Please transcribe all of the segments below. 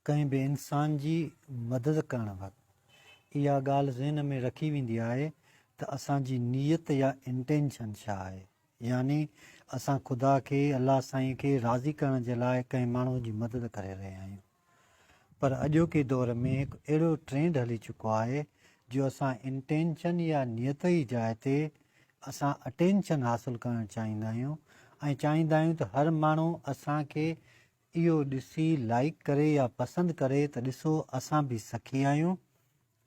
ڪنهن به انسان جي مدد ڪرڻ وقت اها ڳالهه ذهن ۾ رکي ويندي آهي ته اسان جي نيت يا Intention ڇا آهي؟ يعني اسان خدا کي، الله سائين کي، راضي ڪرڻ جي لاء ڪنهن ماڻهو جي مدد ڪري رهيا آهيون. پر اڄوڪي دور ۾ هڪ اهڙو ٽرينڊ هلي چڪو آهي جو اسان Intention يا نيت ئي جاء تي اسان Attention حاصل ڪرڻ چاهيندا آهيون ۽ چاهيندا آهيون ته هر ماڻهو اسان کي اهو ڏسي لائيڪ ڪري يا پسند ڪري ته ڏسو اسان به سخي آهيون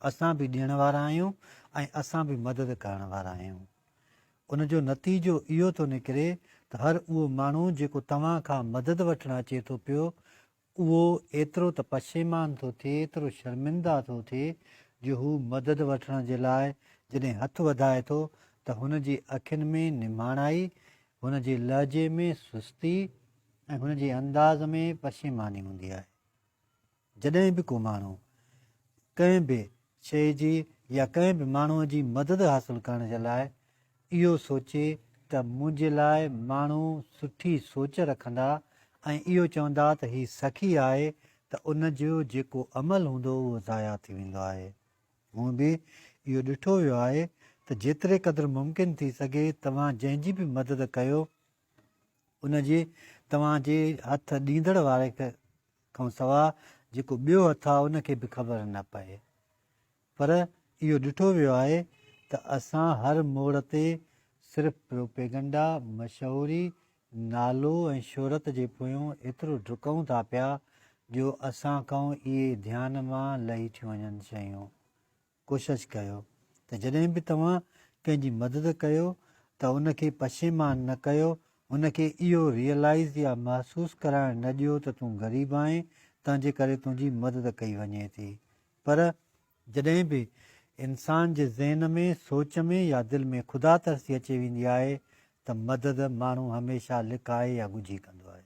اسان به ڏيڻ وارا آهيون ۽ اسان به مدد ڪرڻ وارا آهيون ان جو نتيجو اهو ٿو نڪري ته هر اهو ماڻهو جيڪو توهان کان مدد وٺڻ اچي ٿو پيو اهو ايترو ته پشيمان ٿو ٿئي ايترو شرمنده ٿو ٿئي جو هو مدد وٺڻ جي لاء جڏهن هٿ وڌائي ٿو ته هن جي اکين ۾ نمهاڻائي هن جي لهجي ۾ سستي ۽ هن جي انداز ۾ پشيماني هوندي آهي. جڏهن به ڪو ماڻهو ڪنهن به شيء جي يا ڪنهن به ماڻهوء جي مدد حاصل ڪرڻ جي لاء اهو سوچي ته منهنجي لاء ماڻهو سٺي سوچ رکندا ۽ اهو چوندا ته هي سخي آهي ته ان جو جيڪو عمل هوندو اهو ضايع ٿي ويندو آهي. هونء به اهو ڏٺو ويو آهي ته جيتري قدر ممڪن ٿي سگهي توهان جنهن جي به مدد ڪيو ان جي توهان جي هٿ ڏيندڙ واري کان سواء جيڪو ٻيو هٿ آهي ان کي به خبر نه پئي. پر اهو ڏٺو ويو آهي ته اسان هر موڙ تي صرف پروپيگنڊا، مشهوري، نالو ۽ شهرت جي پويون ايترو ڊڪون ٿا پيا جو اسان کان اهي ڌيان مان لهي ٿيون وڃن شيون. ڪوشش ڪيو ته جڏهن به توهان ڪنهن جي مدد ڪيو ته ان کي پشيمان نه ڪيو، ان کي اهو ريئلائيز يا محسوس ڪرائڻ نه ڏيو ته تون غريب آهين تنهن جي ڪري تنهنجي مدد ڪئي وڃي ٿي پر جڏهن به انسان جي ذهن ۾ سوچ ۾ يا دل ۾ خدا ترسي اچي ويندي آهي ته مدد ماڻهو هميشه لڪائي يا ڳجهي ڪندو آهي.